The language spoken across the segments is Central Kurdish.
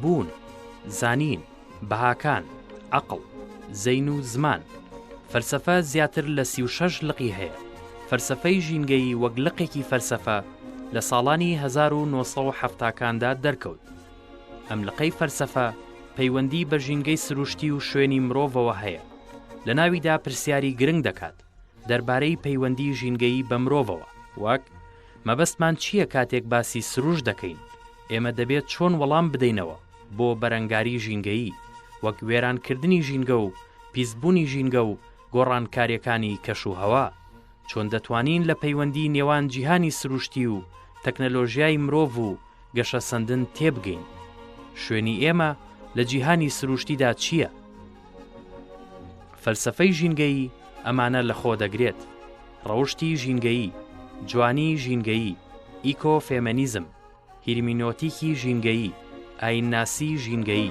بوون، زانین، بەهاکان، عەقڵ، زەین و زمان. فەلسەفە زیاتر لە سی و شەش لقی هەیە. فەلسەفەی ژینگەیی وەک لقێکی فەلسەفە لە ساڵانی هەزار و نۆ سەد و حەفتا کاندا دەرکەوت. ئەم لقەی فەلسەفە پەیوەندی بە ژینگەی سروشتی و شوێنی مرۆڤەوە هەیە. لە ناویدا پرسیاری گرنگ دەکات. دەربارەی پەیوەندی ژینگەیی بە مرۆڤەوە وەک، مەبەستمان چییە کاتێک باسی سرووشت دەکەین؟ ئێمە دەبێت چۆن وەڵام بدەینەوە بۆ بەرەنگاری ژینگەیی وەک وێرانکردنی ژینگە و پیسبوونی ژینگە و گۆڕانکارییەکانی کەشوهەوا؟ چۆن دەتوانین لە پەیوەندی نێوان جیهانی سرووشتی و تەکنەلۆژیای مرۆڤ و گەشەسەندن تێبگەین شوێنی ئێمە لە جیهانی سروشتیدا چییە؟ فەلسفەی ژینگەیی ئەمانە لەخۆ دەگرێت، ڕەوشتی ژینگەیی، جوانی ژینگەیی، ئیکۆ فێمەنیزم، هیرمینۆتیکی ژینگەیی، ئاینناسی ژینگەیی.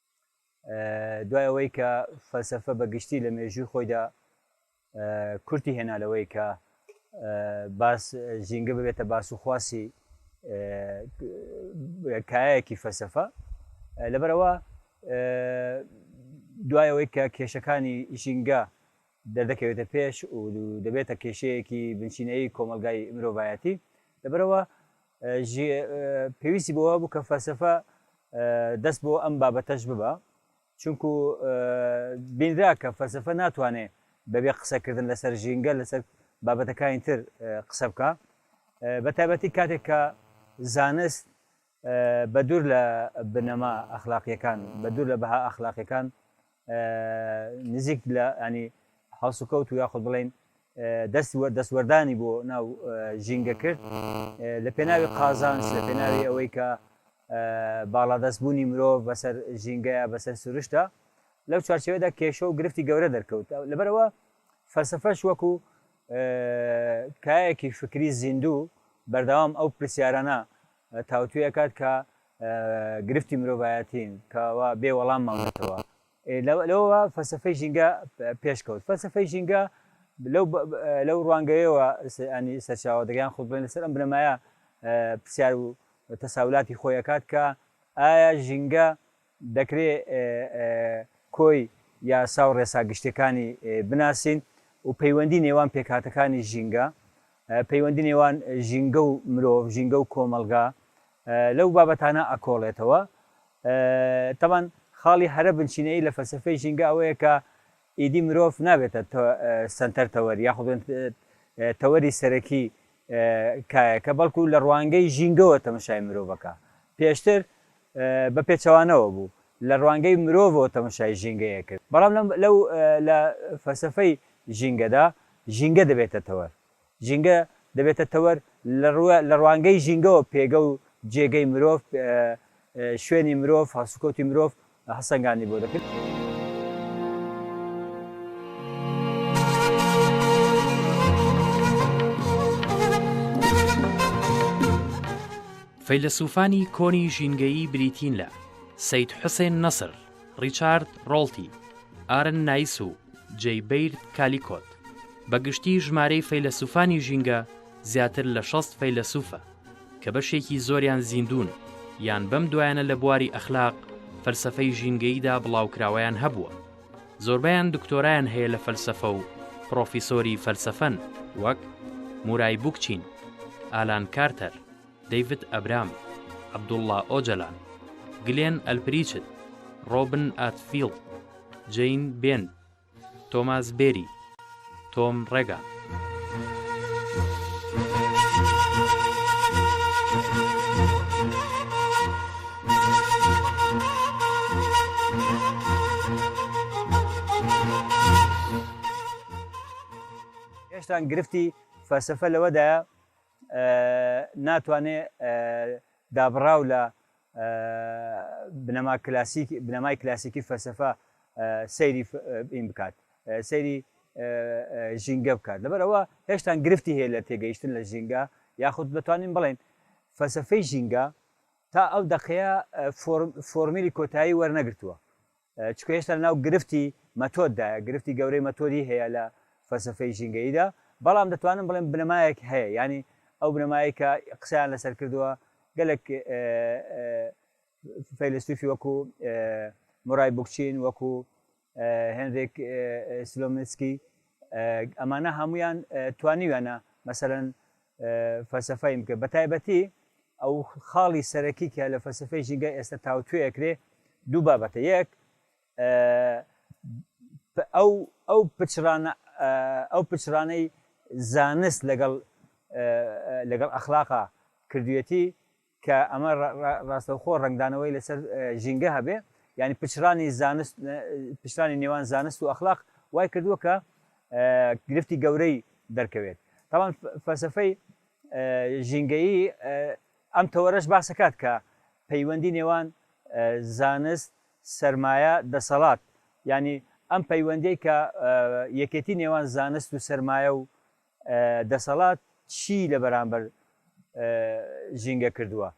دوای ئەوەی کە فەلسەفە بە گشتی لە مێژووی خۆیدا کورتی هێنا لەوەی کە باس ژینگە ببێتە باس و خواسی کایەکی فەلسەفە لەبەرەوە دوای ئەوەی کە کێشەکانی ژینگە دەردەکەوێتە پێش و دەبێتە کێشەیەکی بنچینەی کۆمەلگای مرۆڤایەتی لەبەرەوە ژی پێویستی بۆ بوو کە فەلسەفە دەست بۆ ئەم بابەتەش ببە چونکو بینرا کە فەلسەفە ناتوانێ بەبێ قسەکردن لەسەر ژینگە لەسەر بابەتەکانی تر قسە بکە بە تایبەتی کاتێک کە زانست بە دوور لە بنەما ئەخلاقیەکان بە دوور لە بەها ئەخلاقیەکان نزیک لە ینی هەڵسوکەوت و یاخود بڵین دەست دەستوەردانی بۆ ناو ژینگە کرد لە پێناوی قازانس لە پێناوی ئەوەی کە باڵادەستبوونی مرۆڤ بەسەر ژینگەیە بەسەر سروشتە لەو چارچەوەدا کێشە و گرفتی گەورە دەرکەوت لەبەرەوە فەلسفەش وەکو کایەکی فکری زیندوو بەردەوام ئەو پرسیارانە تاوتوێکات کە گرفتی مرۆڤایەتین کە وا بێ وەڵام ماونەتەوە ئێ لەوە لەوە فەلسەفەی ژینگە پێ- پێشکەوت فەلسەفەی ژینگە لەو بە- بە- لەو ڕوانگەیەوە س- ینی سەرچاوە دەگرێت یان خۆ بڵێن لەسەر ئەم بنەمایە پرسیار و تەساولاتی خۆی ئەکات کە ئایا ژینگە دەکرێ کۆی یاسا و ڕێسا گشتیەکانی بناسین و پەیوەندی نێوان پێکهاتەکانی ژینگە پەیوەندی نێوان ژینگە و مرۆڤ ژینگە و کۆمەڵگا لەو بابەتانە ئەکۆڵێتەوە. تەبان خاڵی هەرە بنچینەیی لە فەلسەفەی ژینگە ئەوەیە کە ئیدی مرۆڤ نابێتە سەنتەر تەوەر یاخود بڵێن تەوەری سەرەکی کایەکە بەڵکو لە ڕوانگەی ژینگەوە تەمەشای مرۆڤ ئەکا. پێشتر بە پێچەوانەوە بوو، لە ڕوانگەی مرۆڤەوە تەمەشای ژینگەی ئەکرد. بەڵام لەو لە فەلسەفەی ژینگەدا ژینگە دەبێتە تەوەر. ژینگە دەبێتە تەوەر لە ڕوانگەی ژینگەوە پێگە و جێگەی مرۆڤ، شوێنی مرۆڤ، هەڵسوکەوتی مرۆڤ هەڵسەنگاندنی بۆ دەکرد. فەیلەسووفانی کۆنی ژینگەیی بریتین لە، سەید حوسێن نەسر، ڕیچارد ڕۆڵتی، ئارن نایس و جەی بەیرد کالیکۆت، بە گشتی ژمارەی فەیلەسووفانی ژینگە زیاتر لە شەست فەیلەسووفە، کە بەشێکی زۆریان زیندوون یان بەم دوایانە لە بواری ئەخلاق، فەلسەفەی ژینگەییدا بڵاوکراوەیان هەبووە. زۆربەیان دکتۆرایان هەیە لە فەلسەفە و پڕۆفیسۆری فەلسەفەن، وەک، مورای بوکچین، ئالان کارتەر. دەیڤد ئەبرام، عەبدوڵڵا ئۆجەلان، گلێن ئەلپریچت، ڕۆبن ئاتفیڵد، جەین بێن، تۆماس بێری، تۆم ڕێگان. هێشتان گرفتی فەلسەفە لەوەدایە ناتوانێ دابڕاو لە بنەما کلاسیک بنەمای کلاسیکی فەلسەفە سەیری این بکات سەیری ژینگە بکات لەبەر ئەوە هێشتان گرفتی هەیە لە تێگەیشتن لە ژینگە یاخود دەتوانین بڵێن فەلسەفەی ژینگە تا ئەو دەقەیە فۆرمیلی کۆتایی وەرنەگرتووە چونکە هێشتا لەناو گرفتی مەتۆددایە، گرفتی گەورەی مەتۆدی هەیە لە فەلسەفەی ژینگەییدا، بەڵام دەتوانم بڵێم بنەمایەک هەیە، یانی ئەو بنەمایەی کە قسەیان لەسەر کردووە گەلێک فەیلەسوفی وەکو مورای بوکچین، وەکو هێنریک سلۆمنسکی، ئەمانە هەموویان توانیویانە مەسەلەن فەلسەفەیم کرد بە تایبەتی ئەو خاڵی سەرەکی کە لە فەلسفەی ژینگە ئێستا تاوتوێ ئەکرێ دوو بابەتە یەک ئەو ئەو پچرانە ئەو پچرانەی زانست لەگەڵ لەگەڵ ئەخلاقا کردوێتی کە ئەمە ڕاستەوخۆ ڕەنگدانەوەی لەسەر ژینگە هەبێ یعنی پچڕانی زانست پچرانی نێوان زانست و ئەخلاق وای کردووە کە گرفتی گەورەی دەرکەوێت تاوان فەسەفەی ژینگەیی ئەم تەوەرەش باسەکات کە پەیوەندی نێوان زانست سرمایە دەسەڵات ینی ئەم پەیوەندەی کە یەکێتی نێوان زانست و سرمایە و دەسەڵات چی لە بەرامبەر ژینگە کردووە؟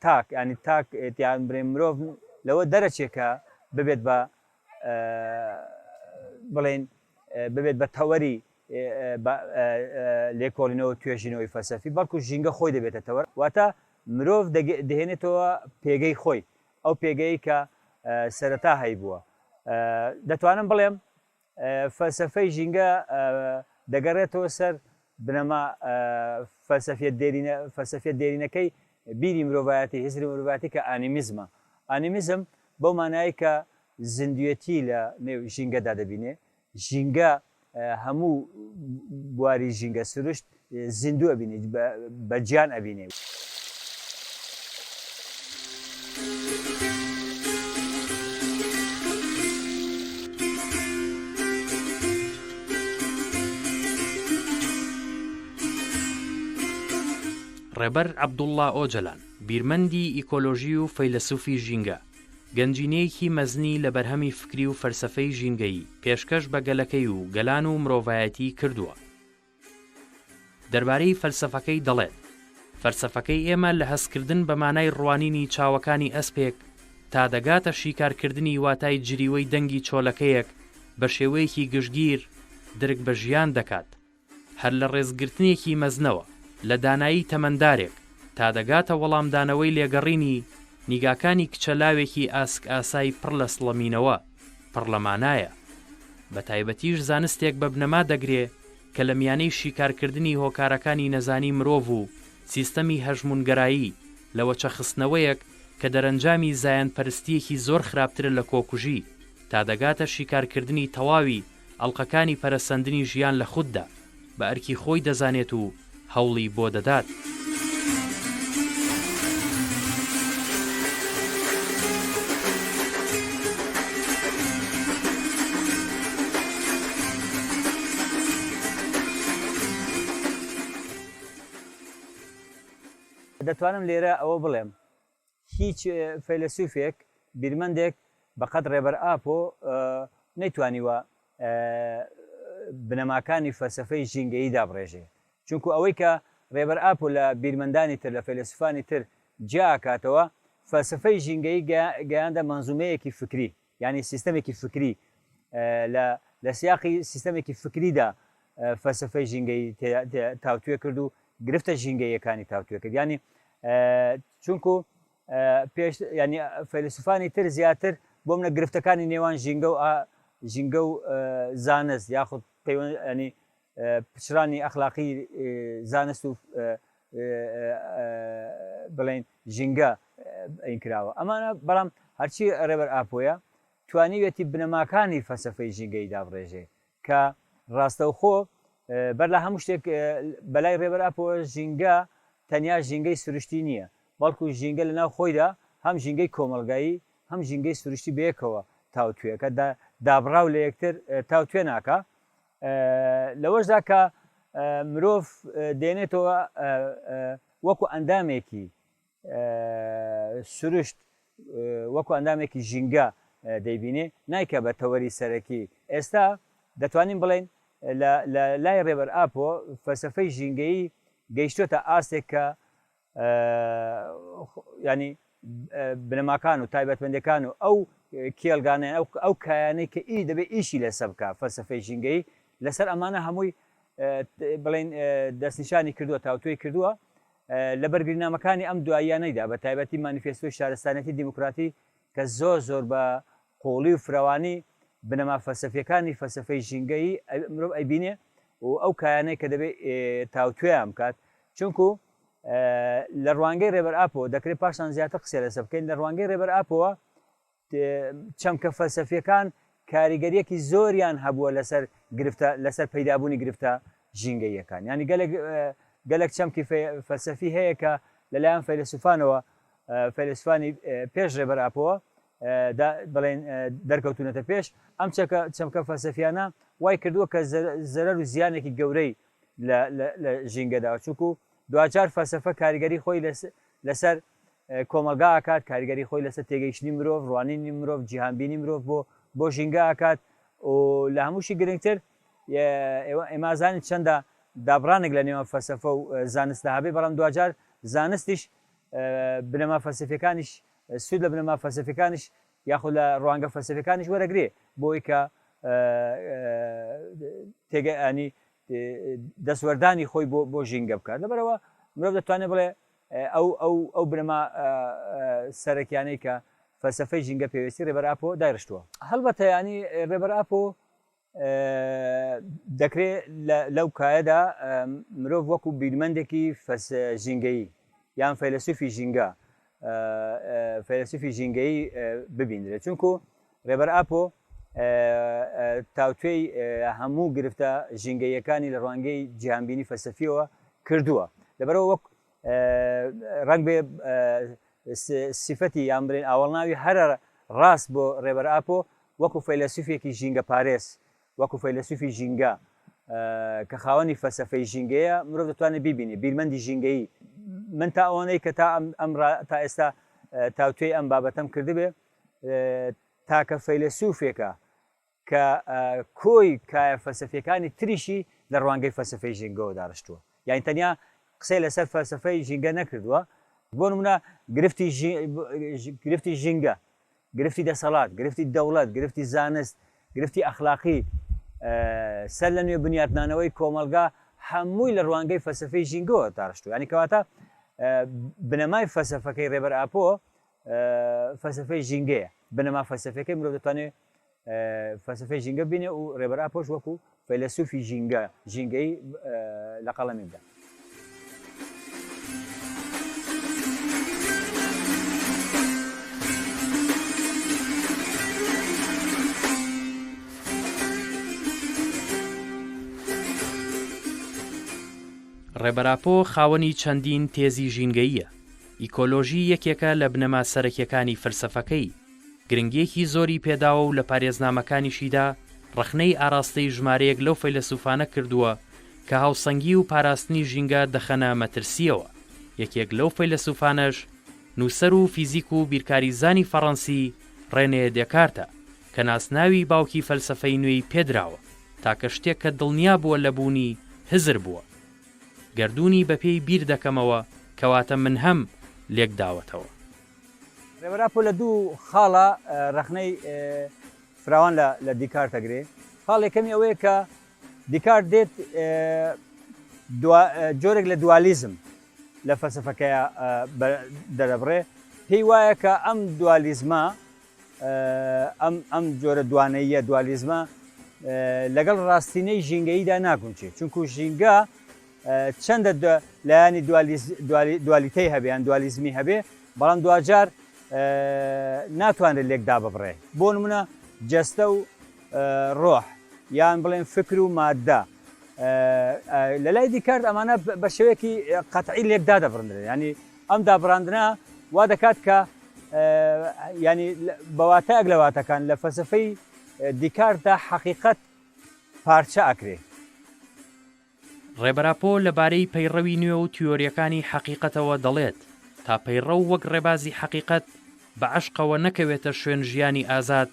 تاک ینی تاک تیان برێن مرۆڤ لەوە دەرەچێ کە ببێت بە بڵێن ببێت بە تەوەری لێکۆڵینەوە توێژینەوەی فەلسەفی بەڵکو ژینگە خۆی دەبێتە تەوەر واتە مرۆڤ دەهێنێتەوە پێگەی خۆی ئەو پێگەی کە سەرەتا هەیبووە دەتوانم بڵێم فەلسەفەی ژینگە دەگەڕێتەوە سەر بنەما فەلسەفیە دێرینە، فەلسەفیە دێرینەکەی بیری مرۆڤایەتی، هزری مرۆڤایەتی کە ئانیمیزمە. ئانیمیزم بەو مانایەی کە زیندوێتی لە نێو ژینگەدا دەبینێ، ژینگە هەموو بواری ژینگە، سروشت، زیندوو ئەبینێ بە گیان ئەبینێ. ڕێبەر عەبدوڵڵا ئۆجەلان، بیرمەندی ئیکۆلۆژی و فەیلەسوفی ژینگە، گەنجینەیەکی مەزنی لە بەرهەمی فکری و فەلسەفەی ژینگەیی پێشکەش بە گەلەکەی و گەلان و مرۆڤایەتی کردووە. دەربارەی فەلسەفەکەی دەڵێت، فەلسەفەکەی ئێمە لە هەستکردن بە مانای ڕوانینی چاوەکانی ئەسپێک تا دەگاتە شیکارکردنی واتای جریوەی دەنگی چۆلەکەیەک بە شێوەیەکی گشتگیر درک بە ژیان دەکات هەر لە ڕێزگرتنێکی مەزنەوە لە دانایی تەمەندارێک تا دەگاتە وەڵامدانەوەی لێگەڕینی نیگاکانی کچە لاوێکی ئاسکئاسای پڕ لە سڵەمینەوە. پڕلەمانایە، بە تایبەتیش زانستێک بە بنەما دەگرێ کە لە میانەی شیکارکردنی هۆکارەکانی نەزانی مرۆڤ و سیستەمی هەژموونگەرایی لە وەچەخستنەوەیەک کە دەرەنجامی زایەندپەرستییەکی زۆر خراپترە لە کۆکوژی تا دەگاتە شیکارکردنی تەواوی ئەڵقەکانی پەرەسەندنی ژیان لە خوددا، بە ئەرکی خۆی دەزانێت و هەوڵی بۆ دەدات. دەتوانم لێرە ئەوە بڵێم. هیچ فەیلەسوفێک، بیرمەندێک بە قەد ڕێبەر ئاپۆ نەیتوانیوە بنەماکانی فەلسەفەی ژینگەیی دابڕێژێ. چونکوو ئەوەی کە ڕێبەر ئاپۆ لە بیرمەندانی تر، لە فەیلەسوفانی تر جیا ئەکاتەوە، فەلسەفەی ژینگەیی گەیاندە مەنزومەیەکی فکری. یانی سیستەمێکی فکری، لە لە سیاقی سیستەمێکی فکریدا فەلسەفەی ژینگەیی تاوتوێ کرد و گرفتە ژینگەییەکانی تاوتوێ کرد یانی چونکو پێش ینی فەیلسوفانی تر زیاتر بۆ منە گرفتەکانی نێوان ژینگە و ژینگە و زانست یاخود پەیوەنی پچڕانی ئەخلاقی زانست و بڵێن ژینگە ئەین کراوە ئەمانە بەڵام هەرچی ڕێبەر ئاپۆیە توانیوێتی بنەماکانی فەسەفەی ژینگەی دابڕێژێ کە ڕاستەوخۆ بەر لە هەموو شتێک بەلای ڕێبەر ئاپۆ ژینگە تەنیا ژینگەی سروشتی نییە بەڵکو ژینگە لە ناو خۆیدا هەم ژینگەی کۆمەلگایی هەم ژینگەی سروشتی بەیەکەوە تاوتوێکە دابڕاو لە یەکتر تاوتوێ ناکە لەوەشدا کە مرۆڤ دێنێتەوە وەکو ئەندامێکی سروشت وەکو ئەندامێکی ژینگە دەیبینێ نایکە بە تەوەری سەرەکی ئێستا دەتوانین بڵێن لە لای ڕێبەر ئاپۆ فەسەفەی ژینگەیی گەیشتۆتە ئاستێک کە ینی بنەماکان و تایبەتمەندەکان و ئەو کێلگانە ئەو کایانەی کە ئی دەبێت ئیشی لەسە بکە فەلسفەی ژینگەی لەسەر ئەمانە هەمووی بڵین دەستنیشانی کردووە تاوتوێ کردووە لە بەرگرنامەکانی ئەم دواییانەیدا بە تایبەتی مانیفێستۆی شارستانەتی دیموکراتی کە زۆر زۆر بە قووڵی و فرەوانی بنەما فەلسەفییەکانی فەلسەفەی ژینگەیی ئەوی مرۆڤ ئەیبینێ و ئەو کایانەی کە دەبێ تاوتوێیان بکات چونکو لە ڕوانگەی ڕێبەر ئاپۆ دەکرێت پاشان زیاتر قسە لەسە بکەین لە ڕوانگەی ڕێبەر ئاپۆوە چەمکە فەلسەفیەکان کاریگەریەکی زۆریان هەبووە لەسەر گرفتە لەسەر پەیدابوونی گرفتە ژینگەیەکان ینی گەلێک گەلێک چەمکی فەلسەفی هەیە کە لەلایەن فەیلسوفانەوە فەیلەسوفانی پێش ڕێبەر ئاپۆ دا بڵێن دەرکەوتونەتە پێش ئەم چەکە چەمکە فەلسەفیانە وای کردووە کە زەرەر و زیانێکی گەورەی لە ژینگەدا چونکو دواجار فەلسەفە کاریگەری خۆی لەسەر کۆمەلگا ئاکات کاریگەری خۆی لەسەر تێگەیشتنی مرۆڤ ڕوانینی مرۆڤ جیهانبینی مرۆڤ بۆ بۆ ژینگە ئاکات و لە هەمووشی گرنگتر ئێمازانی چەندە دابڕانێک لە نێوان فەسەفە و زانستە هەبێ بەڵام دواجار زانستیش بنەما فەلسەفیەکانیش سوود لە بنەما فەلسەفیەکانیش یاخود لە ڕوانگە فەلسەفیەکانیش وەرەگرێ بۆی کە تێگەیانی دەستوەردانی خۆی بۆ بۆ ژینگە بکات لەبەرەوە مرۆڤ دەتوانێت بڵێ ئەو ئەو ئەو بنەما سەرەکیانەی کە فەلسەفەی ژینگە پێویستی ڕێبەر ئاپۆ دایرشتووە هەڵبەتە ینی ڕێبەر ئاپۆ دەکرێت لەو کایەدا مرۆڤ وەکو بیرمەندێکی فەس ژینگەیی یان فەیلسوفی ژینگە فەیلسوفی ژینگەیی ببینرێت چونکو ڕێبەر ئاپۆ تاوتوێی هەموو گرفتە ژینگەیەکانی لە ڕوانگەی جیهانبینی فەسەفیەوە کردووە لەبەرەوە وەک ڕنگ بێ سیفەتی یان برێن ئاوەڵناوی هەرە ڕاست بۆ ڕێبەر ئاپۆ وەکو فەیلەسوفێکی ژینگە پارێز، وەکو فەیلەسوفی ژینگە کە خاوەنی فەلسەفەی ژینگەیە، مرۆڤ دەتوانێت بیبینێت، بیرمەندی ژینگەیی، من تا ئەوەنەی کە تا ئەم را تا ئێستا تاوتوێی ئەم بابەتەم کردبێ، تاکە فەیلەسوفێکە کە کۆی کایە فەلسەفیەکانی تریشی لە ڕوانگەی فەلسەفەی ژینگەوە داڕشتووە، یانی تەنیا قسەی لەسەر فەلسەفەی ژینگە نەکردووە، بۆ نمونە گرفتی گرفتی ژینگە گرفتی دەسەڵات، گرفتی دەوڵەت، گرفتی زانست، گرفتی ئەخلاقی، سەر لەنوێ بنیاتنانەوەی کۆمەڵگا هەمووی لە ڕوانگەی فەلسەفەی ژینگەوە داڕشتووە. یانی کەواتە بنەمای فەلسەفەکەی ڕێبەر ئاپۆ فەلسەفەی ژینگەیە. بنەما فەلسەفیەکەی مرۆڤ دەتوانێ فەلسەفەی ژینگە بینێ و ڕێبەر ئاپۆش وەکو فەیلەسوفی ژینگە ژینگەی لە قەڵەمی بدە ڕێبەراپۆ خاوەنی چەندین تێزی ژینگەییە ئیکۆلۆژی یەکێکە لە بنەما سەرەکیەکانی فەلسەفەکەی گرنگییەکی زۆری پێداوە و لە پارێزنامەکانیشیدا ڕەخنەی ئاراستەی ژمارەیەک لەو فەیلەسوفانە کردووە کە هاوسەنگی و پاراستنی ژینگە دەخەنە مەترسییەوە، یەکێک لەو فەیلەسوفانەش نووسەر و فیزیک و بیرکاریزانی فەڕەنسی ڕێنێ دێکارتە کە ناسناوی باوکی فەلسەفەی نوێی پێدراوە، تاکە شتێک کە دڵنیا بووە لە بوونی، هزر بووە. گەردوونی بەپێی بیر دەکەمەوە، کەواتە من هەم، لێکداوەتەوە. رێبەر ئاپۆ لە دوو خاڵا رەخنەی فراوان لە دیکارت ئەگرێ. خاڵ یەکەمی ئەوەیە کە دیکارت دێت جۆرێک لە دوالیزم لە فەلسەفەکەیا دەرەبڕێ، پێی وایە کە ئەم دوالیزمە، ئەم جۆرە دوانەییە، دوالیزمە لەگەڵ راستینەی ژینگەییدا ناگونجێ، چونکوو ژینگە، چەندە لایەنی دوالیتەی هەبێ یان دوالیزمی هەبێ، بەڵام دواجار ناتوانرێت لێک داببڕێ. بۆ نموونە جەستە و ڕۆح، یان بڵێن فکر و ماددە. لە لای دیکارت ئەمانە بە شێوەیەکی قەتعی لێک دادەبڕدرێن. یانی ئەم دابڕاندنە وا دەکات کە یانی بە واتایەک لە واتەکان لە فەلسەفەی دیکارتدا حەقیقەت پارچە ئەکرێ. ڕێبەر ئاپۆ لە بارەی پەیڕەوی نوێ و تیۆریەکانی حەقیقەتەوە دەڵێت، تا پەیڕەو وەک ڕێبازی حەقیقەت بە عەشقەوە نەکەوێتە شوێن ژیانی ئازاد،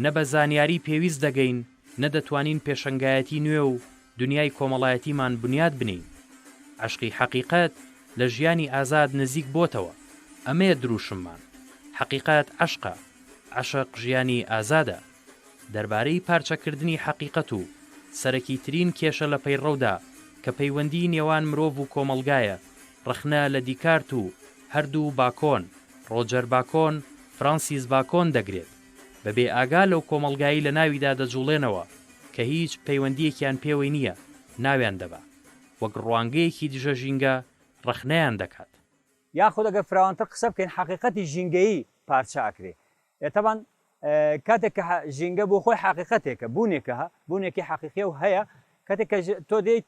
نە بە زانیاری پێویست دەگەین، نە دەتوانین پێشەنگایەتی نوێ و دنیای کۆمەڵایەتیمان بنیات بنێین. عەشقی حەقیقەت لە ژیانی ئازاد نزیک بۆتەوە. ئەمەیە درووشممان. حەقیقەت عەشقە. عەشق ژیانی ئازادە. دەربارەی پارچەکردنی حەقیقەت و سەرەکیترین کێشە لە پەیڕەودا کە پەیوەندیی نێوان مرۆڤ و کۆمەڵگایە، ڕەخنە لە دیکارت و هەردوو باکۆن، ڕۆجەر باکۆن، فرانسیس باکۆن، دەگرێت، بە بێ ئاگا لەو کۆمەڵگایەی لە ناویدا دەجوڵێنەوە کە هیچ پەیوەندییەکیان پێوەی نییە، ناویان دەبا. وەک ڕوانگەیەکی دژە ژینگە ڕەخنەیان دەکات. یاخود ئەگەر فراوانتر قسە بکەین، حەقیقەتی ژینگەیی پارچە ئەکرێ. ئێ تەبان کاتێک کە ژینگە بۆ خۆی حەقیقەتێکە، بوونێکە، بوونێکی حەقیقیە و هەیە، کاتێک کە تۆ دێیت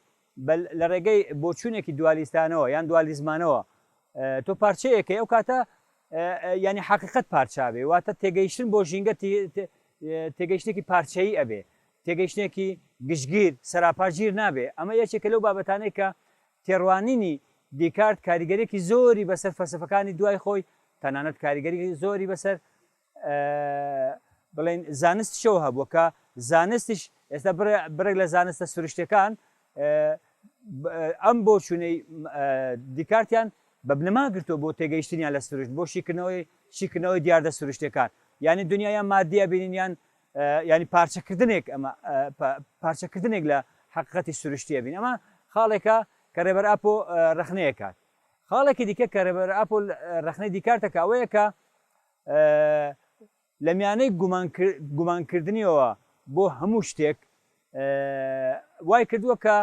لە ڕێگەی بۆچوونێکی دوالیستانەوە یان دوالیزمانەوە تۆ پارچەیەکەی ئەو کاتە ینی حەقیقەت پارچاوێ واتە تێگەیشتن بۆ ژینگە تێگەیشتێکی پارچەیی ئەبێ تێگەیشتێکی گشتگیر سەراپاژیر نابێ ئەمە یەکێکە لەو بابەتانێک کە تێڕوانینی دیکارت کاریگەریەکی زۆری بەسەر فەلسەفەکانی دوای خۆی، تەنانەت کاریگەری زۆری بەسەر بڵێین زانستیشەوە هەبووە کە زانستیش ئێستا بڕێک لە زانستە سروشتەکان ئەم بۆ چونەی دیکارتیان بە بنەما گرتووە بۆ تێگەیشتنیان لە سروشت بۆ شیکردنەوەی شیکردنەوەی دیاردە سروشتەکان یعنی دنیایان مادیە بینینیان یانی پارچەکردنێک ئەمە پارچەکردنێک لە حقیقەتی سروشتیە بین ئەمە خاڵێکە کە ڕێبەر ئاپۆ ڕخنەیەکات خاڵێکی دیکە کە ڕێبەر ئاپۆ ڕخنەی دیکارتەکە ئەوەیە کە لە میانەی گومانکردنیەوە بۆ هەموو شتێک وای کردووە کە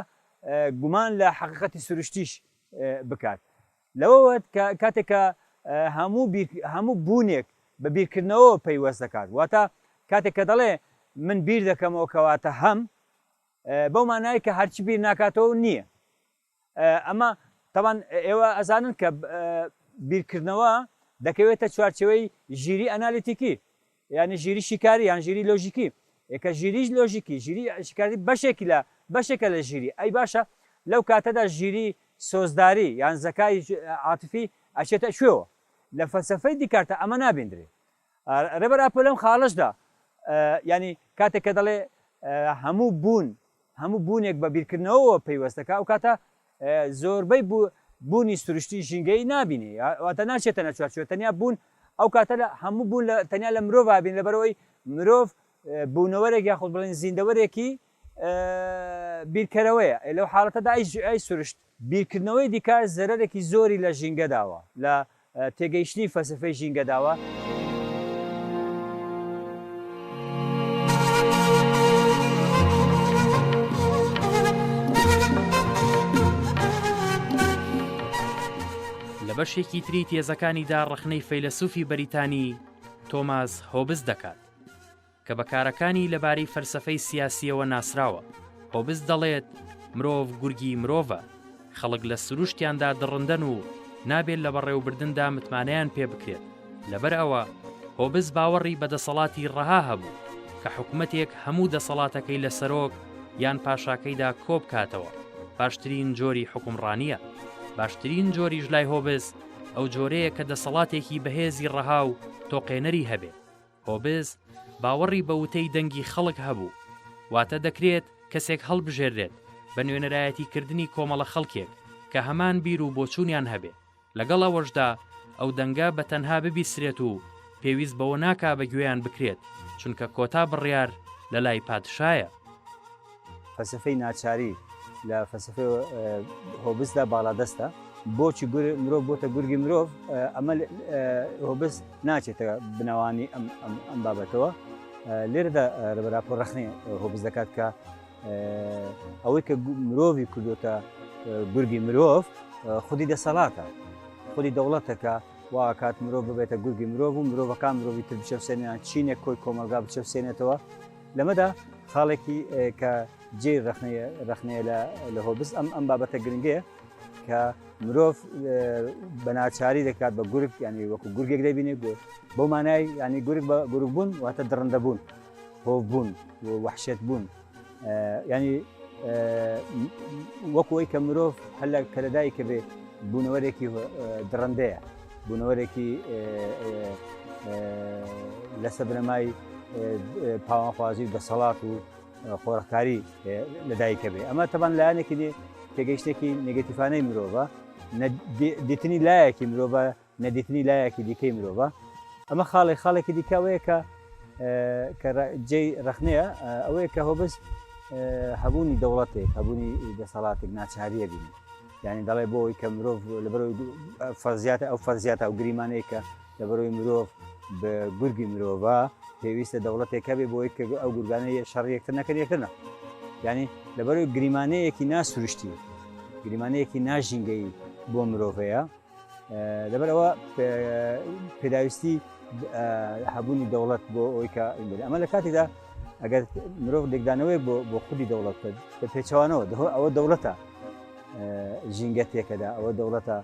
گومان لە حقیقەتی سروشتیش بکات لەوەوەت کە کاتێک کە هەموو بیر هەموو بوونێک بە بیرکردنەوەوە پەیوەست دەکات واتە کاتێک کە دەڵێ من بیر دەکەمەوە کەواتە هەم بەو مانای کە هەرچی بیر ناکاتەوە نییە ئەمە تەوان ئێوە ئەزانن کە بیرکردنەوە دەکەوێتە چوارچەوەی ژیری ئەنالیتیکی یانی ژیری شیکاری یان ژیری لۆژیکی ی کە ژیریی لۆژیکی ژیری شیکاری بەشێکی لە بەشێکە لە ژیری ئەی باشە لەو کاتەدا ژیری سۆزداری یان زەکای عاتفی ئەچێتە کوێوە لە فەلسەفەی دیکارتە ئەمە نابیندرێ ڕێبەر ئاپۆ لەم خاڵەشدا یانی کاتێک کە دەڵێ هەموو بوون هەموو بوونێک بە بیرکردنەوەوە پەیوەستە کە ئەوکاتە زۆربەی بوونی سروشتی ژینگەیی نابینێ واتە ناچێتە نەچوارچوە تەنیا بوون ئەو کاتە لە هەموو بوون لە تەنیا لە مرۆڤ بین لەبەرەوەی مرۆڤ بوونەوەرێک یاخود بڵێن زیندەوەرێکی بیرکەرەوەیە لەو حاڵەتەدا ئەی سروشت بیرکردنەوەی دیکارت زەرەرێکی زۆری لە ژینگەداوە، لە تێگەیشتنی فەلسەفەی ژینگەداوە. لە بەشێکی تری تێزەکانیدا ڕەخنەی فەیلەسوفی بەریتانی تۆماس هۆبز دەکات. کە بە کارەکانی لەبارەی فەلسەفەی سیاسییەوە ناسراوە. هۆبز دەڵێت، مرۆڤ گورگی مرۆڤە، خەڵک لە سروشتیاندا دڕندەن و نابێت لە بەڕێوەبردندا متمانەیان پێ بکرێت، لەبەر ئەوە هۆبز باوەڕی بە دەسەڵاتی ڕەها هەبوو، کە حکومەتێک هەموو دەسەڵاتەکەی لە سەرۆک یان پاشاکەیدا کۆ بکاتەوە، باشترین جۆری حوکمڕانییە. باشترین جۆریش لای هۆبز ئەو جۆرەیە کە دەسەڵاتێکی بەهێزی ڕەها و تۆقێنەری هەبێت. هۆبز باوەڕی بە وتەی دەنگی خەڵک هەبوو، واتە دەکرێت کەسێک هەڵبژێررێت بە نوێنەرایەتی کردنی کۆمەڵە خەڵکێک کە هەمان بیر و بۆچوونیان هەبێ، لەگەڵ ئەوەشدا ئەو دەنگە بە تەنها ببیسرێت و پێویست بەوە ناکا بە گوێیان بکرێت، چونکە کۆتا بڕیار لە لای پادشایە. فەلسەفەی ناچاری لە فەلسەفەی هۆبسدا باڵادەستە بۆچی مرۆڤ بۆتە گورگی مرۆڤ ئەمە هۆبس ناچێتە بنەوانی ئەم بابەتەوە لێرەدا رەبەراپۆ رەخنی هۆبس دەکات کە ئەوەی کە مرۆڤی کردوتە گورگی مرۆڤ خودی دەسەڵاتە خودی دەوڵەتەکە واکات مرۆڤ ببێتە گورگی مرۆڤ و مرۆڤەکان مرۆڤی تر بچەسێنیان چینێک کۆی کۆمەلگا بچەسێنێتەوە لەمەدا خاڵێکی کە جێ رەخنەیە لە هۆبس ئەم ئەم بابەتە گرنگەیە کە مرۆڤ بەناچاری دەکات بە گورک ینی وەکو گورگێک دەبینێت بۆ بۆ مانای ینی گورک بە گورک بوون واتە دڕندە بوون هۆ بوون وحشێت بوون ینی وەکوی کە مرۆڤ هەلە کەلەدایکە بێ بوونەوەرێکی دڕندەیە بوونەوەرێکی لەسە بنەمای پاوانخوازی و دەسەڵات و خۆڕکاری لەدایکە بێ ئەمە تەبان لایەنێکی دی تێگەیشتێکی نگەتیفانەی مرۆڤە دیتنی لایەکی مرۆڤە نەدیتنی لایەکی دیکەی مرۆڤە ئەمە خاڵی خاڵێکی دیکەوەیە کە کە جێ ڕخنەیە ئەوەیە کە هۆبست هەبوونی دەوڵەتێک هەبوونی دەسەڵاتێک ناچاریە بینی یانی دەڵێ بۆ ئەوەی کە مرۆڤ لەبەرەوەی فەرزیاتە ئەو فەرزیاتە و گریمانەیە کە لەبەرەوەی مرۆڤ بە گورگی مرۆڤە پێویستە دەوڵەتێکە بێ بۆی کە ئەو گورگانە یە شەڕ یەکتر نەکەن یەکتر نە ینی لەبەرەوەی گریمانەیەکی ناسروشتی گریمانەیەکی ناژینگەی بۆ مرۆڤەیە لەبەر ئەوە پێداویستی هەبوونی دەوڵەت بۆ ئەوی کە ئەمە لە کاتێکدا ئەگەر مرۆڤ لێکدانەوەی بۆ خودی دەوڵەت کرد بە پێچوانەوە ئەوە دەوڵەتە ژینگە تێکەدا ئەوە دەوڵەتە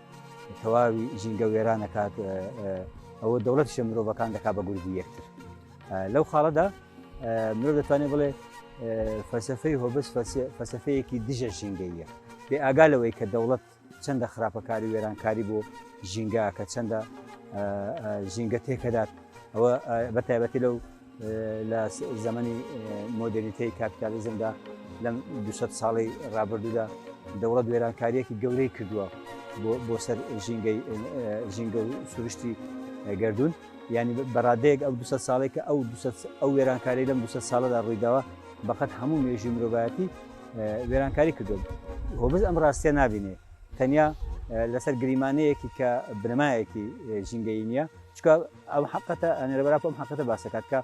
تەواوی ژینگە وێرانەکات ئەوە دەوڵەت شە مرۆڤەکان دەکا بە گوردی یەکتر لەو خاڵەدا مرۆڤ دەتوانێت بڵێ فەسەفەی هۆبس فەسەفەیەکی دژە ژینگەیە بێ ئاگا لەوەی کە دەوڵەت چەندە خراپەکاری وێرانکاری بۆ ژینگە کە چەندە ژینگە تێکەدات ئەوە بە تایبەتی لەو لە زەمەنی مۆدرنیتەی کاپیتالیزمدا لەم دو ساڵی ڕابردوودا دەوڵەت وێرانکاریەکی گەورەی کردووە بۆ سەر ژینگەی ژینگە و سروشتی گردون ینی بەڕادەیەک ئەو دو ساڵێک کە ئەو ئەو وێرانکاری لەم دو ساڵەدا ڕوویداوە بەقەت هەموو مێژی مرۆڤایەتی وێرانکاری کردووە هۆبز ئەم ڕاستیە نبینێ تەنیا لەسەر گریمانەیەکی کە بنەمایەکی ژینگەی نییە چکە ئەم حقەتە ئەنەرەبرا ئەم حقەتە باسەکات کە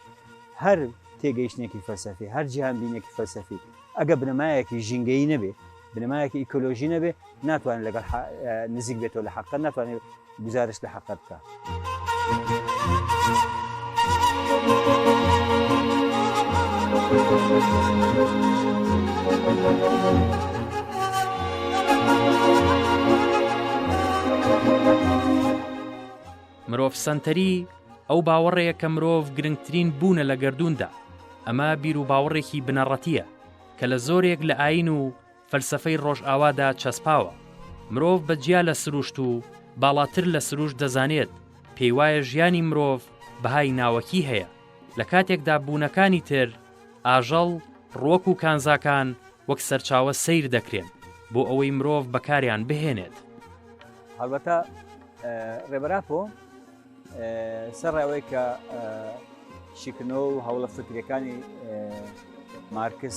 هەر تێگەیشتێکی فەلسەفی هەر جیهان بینێکی فەلسەفی ئەگە بنەمایەکی ژینگەی نەبێ بنەمایەکی ئیکۆلۆژی نەبێ ناتوانێت لەگەڵ حە نزیک بێتەوە لە حەقە ناتوانێت گزارش لە حەقە بکە. مرۆڤ سەنتەری ئەو باوەڕەیە کە مرۆڤ گرنگترین بوونە لە گردووندا ئەمە بیر و باوەڕێکی بنەڕەتیە کە لە زۆرێک لە ئاین و فەلسەفەی ڕۆژئاوادا چەسپاوە. مرۆڤ بە جیا لە سروشت و باڵاتر لە سروشت دەزانێت، پێیوایە ژیانی مرۆڤ بەهای ناوەکی هەیە، لە کاتێکدا بوونەکانی تر، ئاژەڵ، ڕوەک و کانزاکان، وەک سەرچاوە سەیر دەکرێن، بۆ ئەوەی مرۆڤ بەکاریان بهێنێت. هەڵبەتە ڕێبەر ئاپۆ سەرڕای ئەوەی کە شیکردنەوە و هەوڵە فکریەکانی مارکس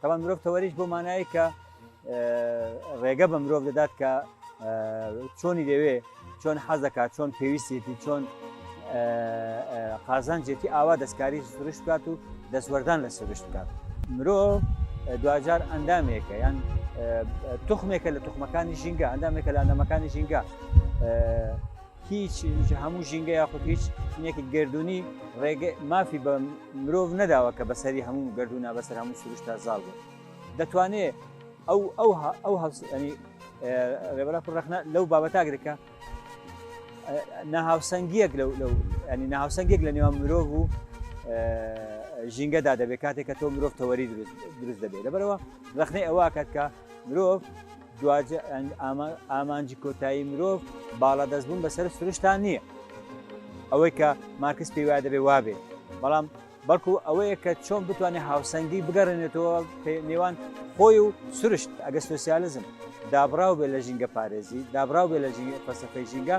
تاوان مرۆڤ تەوەریش بۆ مانایی کە ڕێگە بە مرۆڤ دەدات کە چۆنی دەوێ چۆن حەز دەکات چۆن پێویستێتی چۆن قازانجێتی ئاوا دەستکاری سروشت بکات و دەستوەردان لە سروشت بکات مرۆڤ دوجار ئەندامێکە یان تخمێکە لە تخمەکانی ژینگە ئەندامێکە لە ئەندامەکانی ژینگە هیچ هەموو ژینگە یاخود هیچ شتێکی گردردونی ڕێگە مافی بە مرۆڤ نەداوە کە بەسەری هەموو گردردونە بەسەر هەموو سروشتا زاڵ بوو دەتوانێت ئەو ئەو ئەو هەستنی ڕێبەرە ڕخنە لەو بابەتاگرکە ناهاوسەنگیەک لەو لەو ینی ناهاوسەنگێک لە نێوان مرۆڤ و ژینگەدا دەبێت کاتێک کە تۆ مرۆڤ تەوەری دروست دروست دەبێت لەبەرەوە ڕخنەی ئەوە کات کە مرۆڤ دواجار ئامانجی کۆتایی مرۆڤ باڵادەست بوون بەسەر سروشتان نییە ئەوەی کە مارکس پێی وایە دەبێ وابێ بەڵام بەڵکو ئەوەیە کە چۆن بتوانێت هاوسەنگی بگەڕێنێتەوە نێوان خۆی و سروشت ئەگە سوسیالزم دابراو بێ لە ژینگە پارێزی دابراو بێ لە ژینگە فەسەفەی ژینگە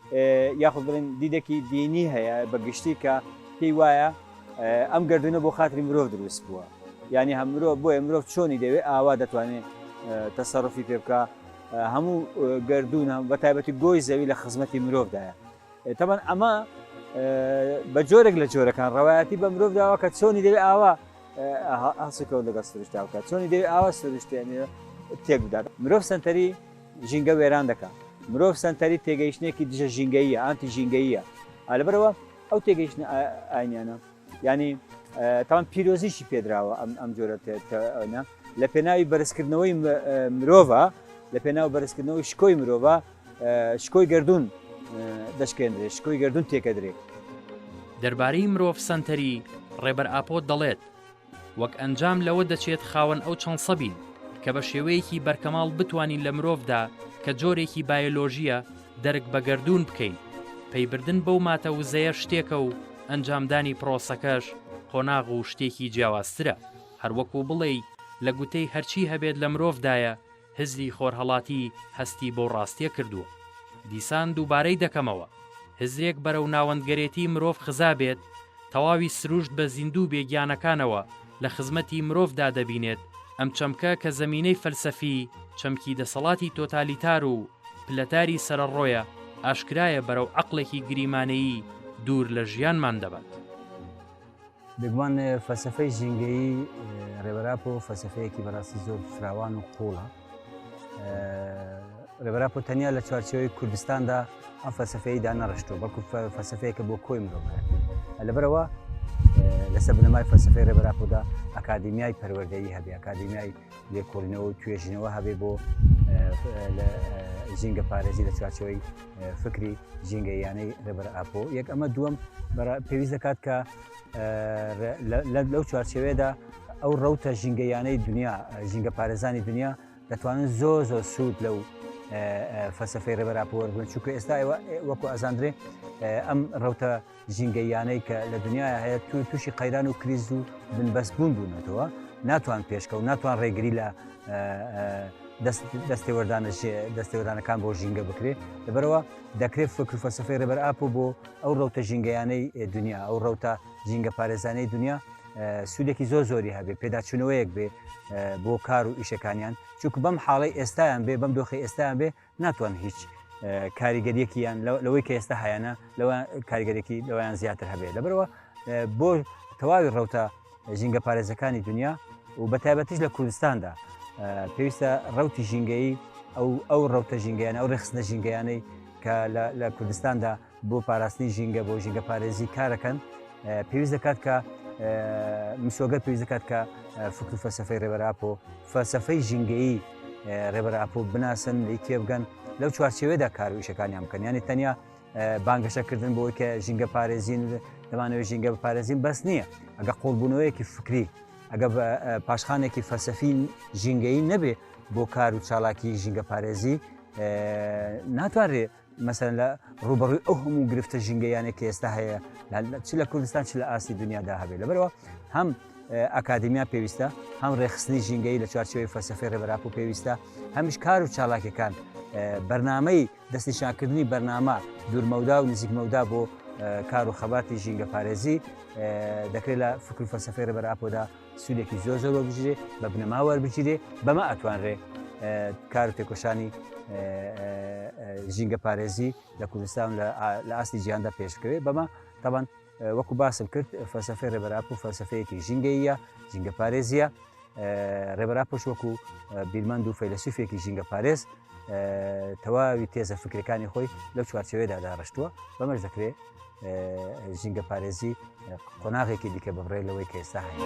یاخود بڵێن دیدێکی دینی هەیە بە گشتی کە پێی وایە ئەم گردونە بۆ خاتری مرۆڤ دروست بووە یعنی هەم مرۆڤ بۆیە مرۆڤ چۆنی دەوێت ئاوا دەتوانێت تەسەڕفی پێ بکە هەموو گردون هەم بە تایبەتی گۆی زەوی لە خزمەتی مرۆڤدایە تەبەن ئەمە بە جۆرێک لە جۆرەکان ڕەوایەتی بە مرۆڤ داوە کە چۆنی دەوێت ئاوا هەسکەوت لەگە سروشتاوکە چۆنی دەوێت ئاوا سروشتێنێ تێک بدات مرۆڤ سنتەری ژینگە وێران دەکا. مرۆڤ سەنتەری تێگەیشتنێکی دژە ژینگەییە، ئانتی ژینگەییە. ئا لەبەر ئەوە ئەو تێگەیشتنە ئا ئاینیانە یانی تاوان پیرۆزیشی پێدراوە ئەم ئەم جۆرە تێ تە ئەنە لە پێناوی بەرزکردنەوەی مرۆڤە لە پێناو بەرزکردنەوەی شکۆی مرۆڤە شکۆی گردون دەشکێندرێ شکۆی گردون تێکەدرێ. دەربارەی مرۆڤ سەنتەری، ڕێبەر ئاپۆ دەڵێت، وەک ئەنجام لەوە دەچێت خاوەن ئەو چەند سە بین کە بە شێوەیەکی بەرکەماڵ بتوانین لە مرۆڤدا کە جۆرێکی بایۆلۆژییە دەرک بە گەردوون بکەین، پەیبردن بەو ماتە وزەیە شتێکە و ئەنجامدانی پرۆسەکەش قۆناغ و شتێکی جیاوازترە، هەروەکو بڵێی لە گوتەی هەرچی هەبێت لە مرۆڤدایە، هزری خۆرهەڵاتی هەستی بەو ڕاستیە کردووە. دیسان دووبارەی دەکەمەوە، هزرێک بەرەو ناوەندگەرێتی مرۆڤ خزابێت، تەواوی سروشت بە زیندوو بێ گیانەکانەوە لە خزمەتی مرۆڤدا دەبینێت، ئەم چەمکە کە زەمینەی فەلسەفی چەمکی دەسەڵاتی تۆتالیتار و پلەتاری سەرەڕۆیە، ئاشکرایە بەرەو عەقڵێکی گریمانەیی دوور لە ژیانمان دەبات. بێگومان فەلسەفەی ژینگەیی ڕێبەر ئاپۆ فەلسەفەیەکی بەڕاستی زۆر فراوان و قووڵە ڕێبەر ئاپۆ تەنیا لە چوارچێوەی کوردستاندا ئەم فەلسەفەی دانەڕشتووە بەڵکو فەلسەفەیەکە بۆ کۆی مرۆڤەکە لەبەرەوە لەسەر بنەمای فەلسەفەی ڕێبەر ئاپۆدا ئەکادیمیای پەروەردەیی هەبێ ئەکادیمیای لێکۆڵینەوە و توێژینەوە هەبێ بۆ ژینگە پارێزی لە چوارچەوەی فکری ژینگە یانەی ڕێبەر ئاپۆ یەک ئەمە دووەم پێویست دەکات کە لەو چوارچەوێدا ئەو ڕوتە ژینگەیانەی دنیا ژینگە پارێزانی دنیا دەتوانن زۆ زۆ سوود لەو فەسەفەی ڕێبەراپۆوەرگن چونکە ئێستا وەکو ئازاندرێ ئەم ڕوتە ژینگەییانەی کە لە دنیاە هەیە تو تووشی قەیران و کریز و بنبەست بوون بوونەتەوە ناتوان پێشکە و ناتوان ڕێگری لە دەستێوەردانە دەستێوەرانەکان بۆ ژینگە بکرێت لەبەرەوە دەکرێت فکر فەسەفی ڕێبەر ئاپ و بۆ ئەو ڕوتە ژینگەیانەی دنیا ئەو ڕوتە ژینگە پارێزانەی دنیا سوودێکی زۆر زۆری هەبێ پێداچوونەوەیەک بێ بۆ کار و ئیشەکانیان چونکە بەم حاڵی ئێستایان بێ بەم دۆخی ئێستایان بێ ناتوان هیچ کاریگەریەکییان لەوەی کە ئێستا هایانە لەوە کاریگەرێکی لەوەیان زیاتر هەبێت لەبەرەوە بۆ تەواوی ڕوتە ژینگە پارێزەکانی دنیا و بە تایبەتیش لە کوردستاندا پێویستە ڕوتی ژینگەی ئەو ئەو ڕوتە ژینگەیان ئەو ڕخستە ژینگەیانەی کە لە کوردستاندا بۆ پاراستنی ژینگە بۆ ژینگە پارێزی کارەکەن پێویست دەکات کە مسۆگەر پێویست دەکات کە فکر و فەسەفەی ڕێبەراپۆ فەسەفەی ژینگەیی ڕێبەراپۆ بناسن لی تێبگەن لەو چوارچێوێدا کار و ئیشەکانیان بکەن ینی تەنیا بانگەشەکردن بۆی کە ژینگە پارێزین دەمانەوەی ژینگە بپارێزین بەس نییە ئەگە قۆڵبوونەوەیەکی فکری ئەگە پاشخانێکی فەسەفین ژینگەی نەبێ بۆ کار و چالاکی ژینگە پارێزی ناتوانرێت مەسەلەن لە ڕوبەڕوی ئەو هەموو گرفتە ژنگەیانێک کە ئێستا هەیە چ لە کوردستان چ لە ئاستی دنیادا هەبێت لەبەرەوە هەم ئاکادمیا پێویستە هەم ڕێخستنی ژینگەی لە چوارچەوەی فەسەفی ڕێبراپ و پێویستە هەمیش کار و چالاکەکان بەرنمەی دەستنیشانکردنی بەرنامە دوورمەودا و نزیکمەودا بۆ کار و خەباتی ژینگە پارێزی دەکرێت لە فکر فەسەفی ڕێبەر ئاپۆدا سوودێکی زۆر زۆر وەبژرێ بە بنەما وەربگیرێ بەمە ئەتوانرێ کار تێکۆشانی ژینگە پارێزی لە کوردستان لە ئاستی جیاندا پێشکەوێت بەمە تاوان وەکو باسم کرد فەسەفی ڕێبەراپ و فەسەفەیەکی ژینگەیە ژینگە پارێزیە ڕێبەرا پش وەکو بیرمەند و فەیلسوفێکی ژینگە پارێز تەواوی تێزە فکرەکانی خۆی لەو چوارچەوەدا داڕشتووە بەمەش دەکرێت ژینگە پارێزی قۆناغێکی دیکە ببڕێ لەوەی کە ئێستا هەیە.